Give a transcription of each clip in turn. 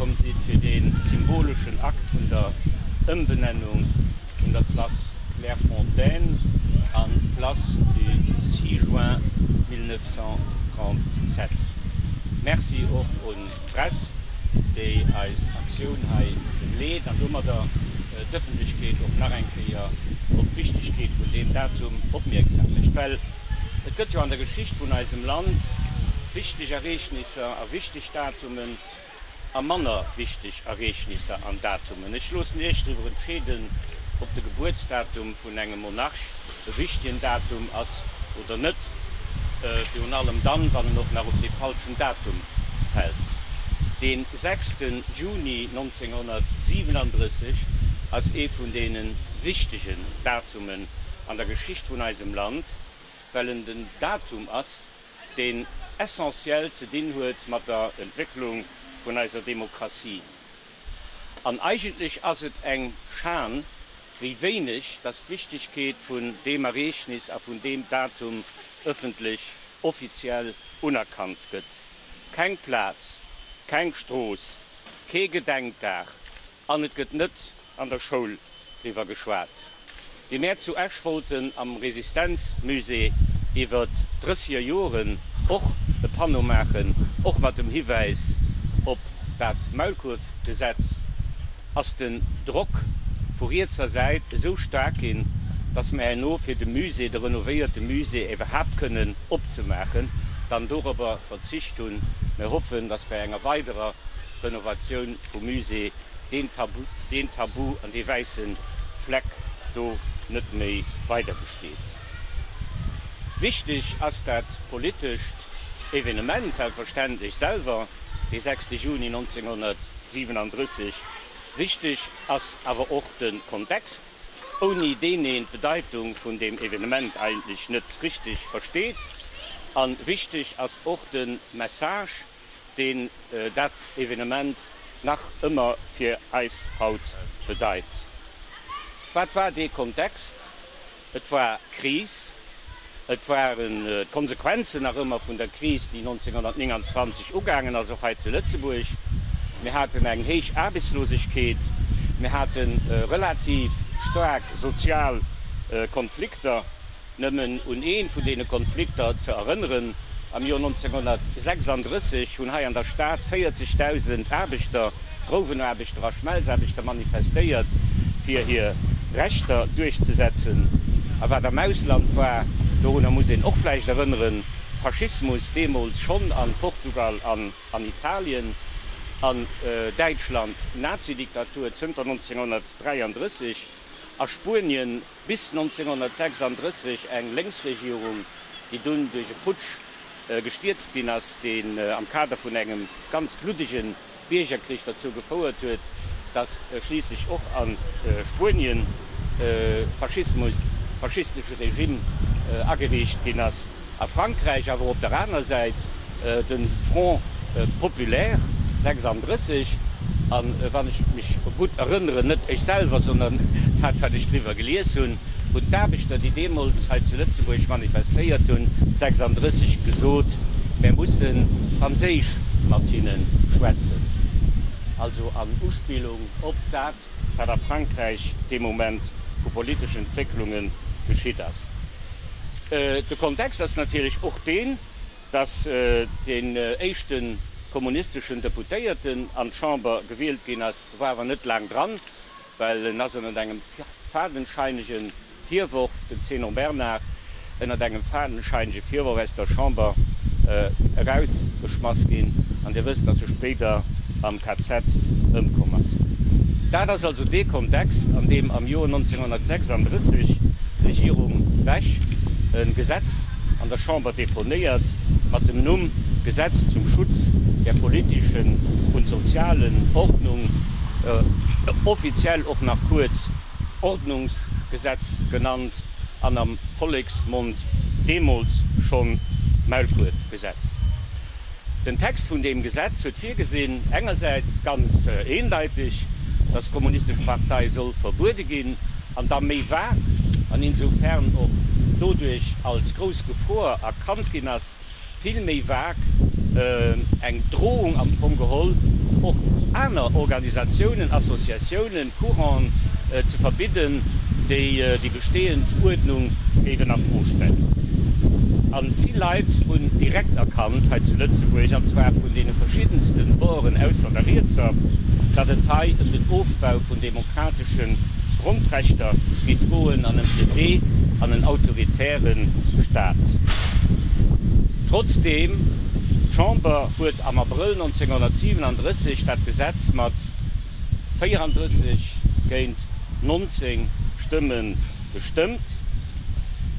Komm sidd fir dee symboleschen Akt vun der Ëmbenennung vun der Place Clairefontaine an Place du 6 juin 1937. Merci och un d'Press, déi eis Aktioun hei begleet an domadder d'Ëffentlechkeet och nach eng Kéier op d'Wichtegkeet vun deem Datum opmierksam mécht. Well et gëtt jo an der Geschicht vun eisem Land wichteg Ereegnisser a wichteg Datumen, a manner wichteg Ereegnisser an Datumen. Ech loossen Iech driwwer entscheeden, ob de Gebuertsdatum vun engem Monarch e wichtegen Datum ass oder net, virun allem dann, wann en och nach op dee falschen Datum fält. Dee 6 Juni 1937 ass ee vun deene wichtegen Datumen an der Geschicht vun eisem Land, well en den Datum ass, deen essentiell ze dinn huet mat der Entwécklung vun eiser Demokratie. An eigentlech ass et eng Schan, wéi wéineg dass d'Wichtigkeet vun deem Ereegnis a vun deem Datum öffentlech offiziell unerkannt gëtt. Keng Plaz, keng Strooss, kee Gedenkdag, An et gëtt net an der Schoul driwwer geschwat, wéi mär zu Esch wollten am Resistenzmusée iwwer drëssiger Joren och e Panneau maachen, och mat dem Hiwäis op dat Maulkuerfgesetz, ass den Drock vu rietser Säit esou staark ginn, datt mär herno fir de Musée, de renovéierte Musée iwwerhaapt kënnen opzemaachen, dann dorobber verzicht hunn. Mär hoffen, datt bei enger weiderer Renovatioun vum Musée deen Tabu, deen Tabu an dee wäisse Fleck do net méi weider besteet. Wichteg ass dat politescht Evenement selbstverständlech selwer, dee 6. Juni 1937. Wichteg ass awer och de Kontext, ouni deen een d'Bedeitung vun deem Evenement eigentlech net richteg versteet. A wichteg ass och de Message. deen dat Evenement nach ëmmer fir eis haut bedeit. Wat war dee Kontext? Et war d'Kris, et waren d'Konsequenzen nach ëmmer vun der Kris, déi 1929 ugaangen ass, och hei zu Lëtzebuerg. Mir haten eng héich Aarbechtslosegkeet, mir hate relativ staark sozial Konflikter. Nëmmen un ee vun deene Konflikter ze erënneren, Am Joer 1936 hunn hei an der Stad 40.000 Aarbechter, Grouwenaarbechter a Schmelzaarbechter, manifestéiert, fir hir Rechter duerchzesetzen. A wat am Ausland war, dorunner muss een och vläicht erënneren, Faschismus deemools schonn a Portugal an an Italien, an Däitschland Nazidiktatur zënter 1933, a Spuenien Bis 1936 eng Lénksregierung, déi dunn duerch e Putsch gestierzt ginn ass, deen am Kader vun engem ganz bluddege Biergerkrich derzou gefouert huet, datt schliisslech och a Spuenien Faschismus, faschistesche Regime ageriicht ginn ass. A Frankräich awer op der aner Säit de Front populaire 36, a wann ech mech gutt erënneren, net ech selwer, sondern dat wat ech driwwer gelies hunn, hunn d'Aarbechter, déi deemools hei zu Lëtzebuerg manifestéiert hunn, 36 gesot, mär mussen franséisch mat hinne schwätzen, also an Uspillung op dat, wat a Frankräich dee Moment vu politeschen Entwécklunge geschitt ass. De Kontext ass natierlech och deen, datt deen éischte kommunisteschen Deputéierten an d'Chamber gewielt ginn ass, war awer net laang dran, well en ass ënnert engem fadenscheinegen Virworf, den Zénon Bernard ënnert engem fadenscheinege Virworf aus der Chamber erausgeschmass ginn, an Dir wësst, dass e spéider am KZ ëmkomm ass. Dat ass also dee Kontext, an deem am Joer 1936 d'Regierung Bech e Gesetz an der Chamber deponéiert mat dem Numm Gesetz zum Schutz der politischen und sozialen Ordnung, offiziell och nach kuerz Ordnungsgesetz genannt an am Volleksmond deemools schonn Maulkuerfgesetz. Den Text vun deem Gesetz huet virgesinn, engersäits ganz eendeiteg, datt d'Kommunistesch Partei soll verbuede ginn, an da méi vag, an insofern och doduerch als grouss Gefor erkannt ginn ass, vill méi vag, eng Drohung am Fong geholl, och aner Organisatiounen, Associatiounen, Courant'en ze verbidden, déi déi bestehend Uerdnung géifen a Fro stellen. A vill Leit hunn direkt erkannt hei zu Lëtzebuerg, an zwar vun deene verschiddenste Boren ausser der Rietser, datt et hei ëm den Ofbau vun demokratesche Grondrechter gi Froen an ëm de Wee an en autoritäre Staat. Trotzdeem, D'Chamber huet am Abrëll 1937 dat Gesetz mat 34 géint 19 Stëmme gestëmmt.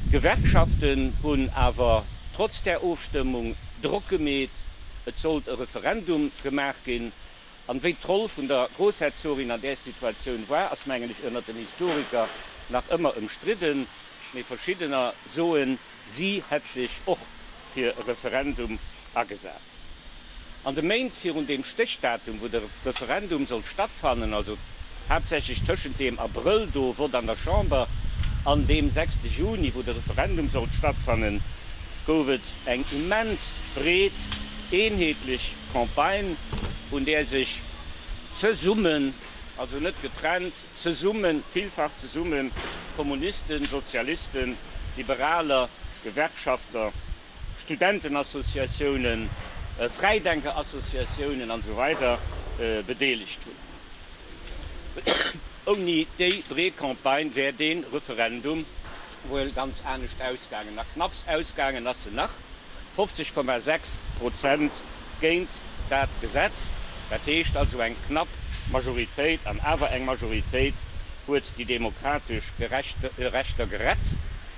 D'Gewerkschaften hunn awer trotz där Ofstëmmung Drock gemeet, et sollt e Referendum gemaach ginn, An wéi d'Roll vun der Groussherzogin an där Situatioun war, ass mengen ech ënnert den Historiker nach ëmmer ëmstridden. Mee verschiddener soen, si hätt sech och fir e Referendum agesat. An de Méint virun deem Stéchdatum, wou de Referendum sollt stattfannen, also haaptsächlech tëschent deem Abrëll do, Vott an der Chamber, an deem 6 Juni, wou de Referendum sollt stattfannen, gouf et eng immens breet, eenheetlech Campagne, un där sech zesummen, also net getrennt, zesummen, villfach zesummen, Kommunisten, Sozialisten, Liberaler, Gewerkschafter, Studentenassociatiounen, Fräidenkerassociatiounen an esou weider bedeelegt hunn. Ouni déi breet Campagne wär dee Referendum wuel ganz anescht ausgaangen a knapps ausgaangen ass se nach, 50,6 Prozent géint dat Gesetz. Dat heescht also eng knapp Majoritéit, an awer eng Majoritéit huet déi demokratesch Rechter gerett.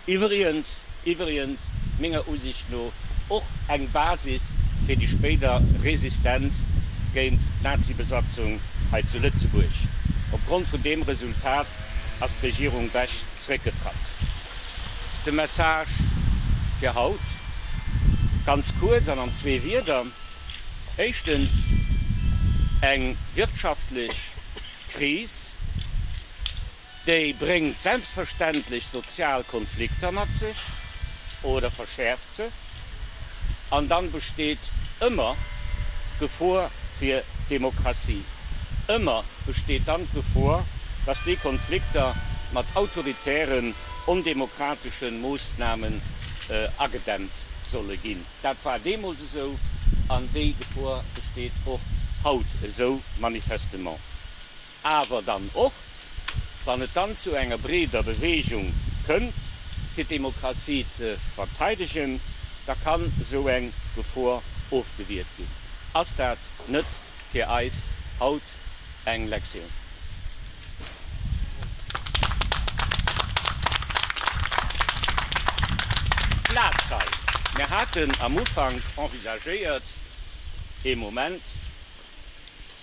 Iwwregens, iwwregens, menger Usicht no och eng Basis fir déi spéider Resistenz géint d'Nazibesatzung hei zu Lëtzebuerg. Opgrond vun deem Resultat ass d'Regierung Bech zréckgetratt. De Message fir haut, ganz kuerz an an zwee Wierder, éischtens, eng wirtschaftlech Kris, déi bréngt selbstverständlech sozial Konflikter mat sech oder verschäerft se. An dann besteet ëmmer d'Gefor fir d'Demokratie. Ëmmer besteet dann d'Gefor, dass déi Konflikter mat autoritären, ondemokrateschen Moossnamen agedämmt solle ginn. Dat war deemools esou an déi Gefor besteet och haut esou manifestement. awer dann och, wann et dann zu enger breeder Beweegung kënnt, fir d'Demokratie ze verteidegen, da kann esou eng Gefor ofgewiert ginn. Ass dat net fir eis haut eng Lektioun? Plaz hei. Mir haten am Ufank envisagéiert, ee Moment,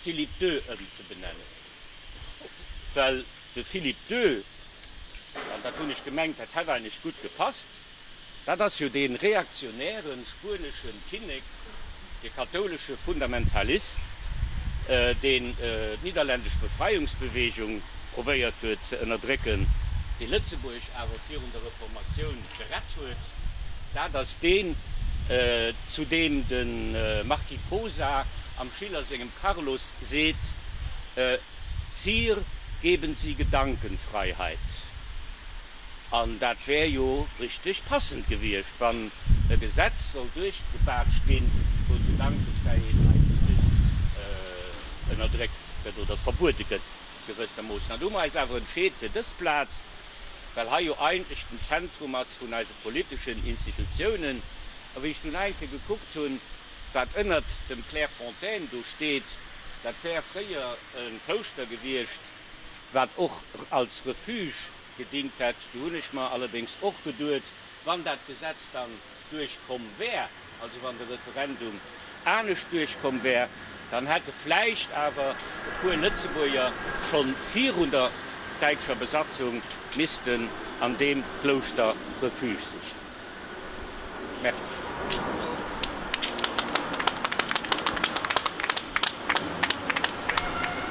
Philippe Dö ëmzebenennen, well de Philippe Dö, an dat hunn ech gemengt, dat hätt eigentlech gutt gepasst, dat ass jo dee reaktionäre spuenesche Kinnek, de kathoulesche Fundamentalist, deen d'niederlännesch Befreiungsbewegung probéiert huet ze ënnerdrécken, dee Lëtzebuerg awer virun der Reformatioun gerett huet, dat ass deen, zu deem de Marquis Posa am Schiller sengem Carlos seet, Sire, geben Sie Gedankenfreiheit. An dat wär jo richteg passend gewiescht, wann e Gesetz soll duerchgebaatscht ginn, wou d'Gedankefräiheet eigentlech ënnerdréckt gëtt oder verbuede gëtt, gewëssermoossen. An do hu mer eis awer entscheet fir dës Plaz. well hei jo eigentlech den Zentrum ass vun eise politeschen Institutiounen. A wéi ech dunn eng Kéier gekuckt hunn, wat ënnert dem Clairefontaine do steet, dat wär fréier e Klouschter gewiescht, wat och als Refuge gedingt hätt, du hunn ech mer allerdéngs och geduet, Wann dat Gesetz dann duerchkomm wär, also wann de Referendum anescht duerchkomm wär, dann hätte vläicht awer e puer Lëtzebuerger schonn virun der däitscher Besatzung missten an deem Klouschter Refuge sichen. Merci.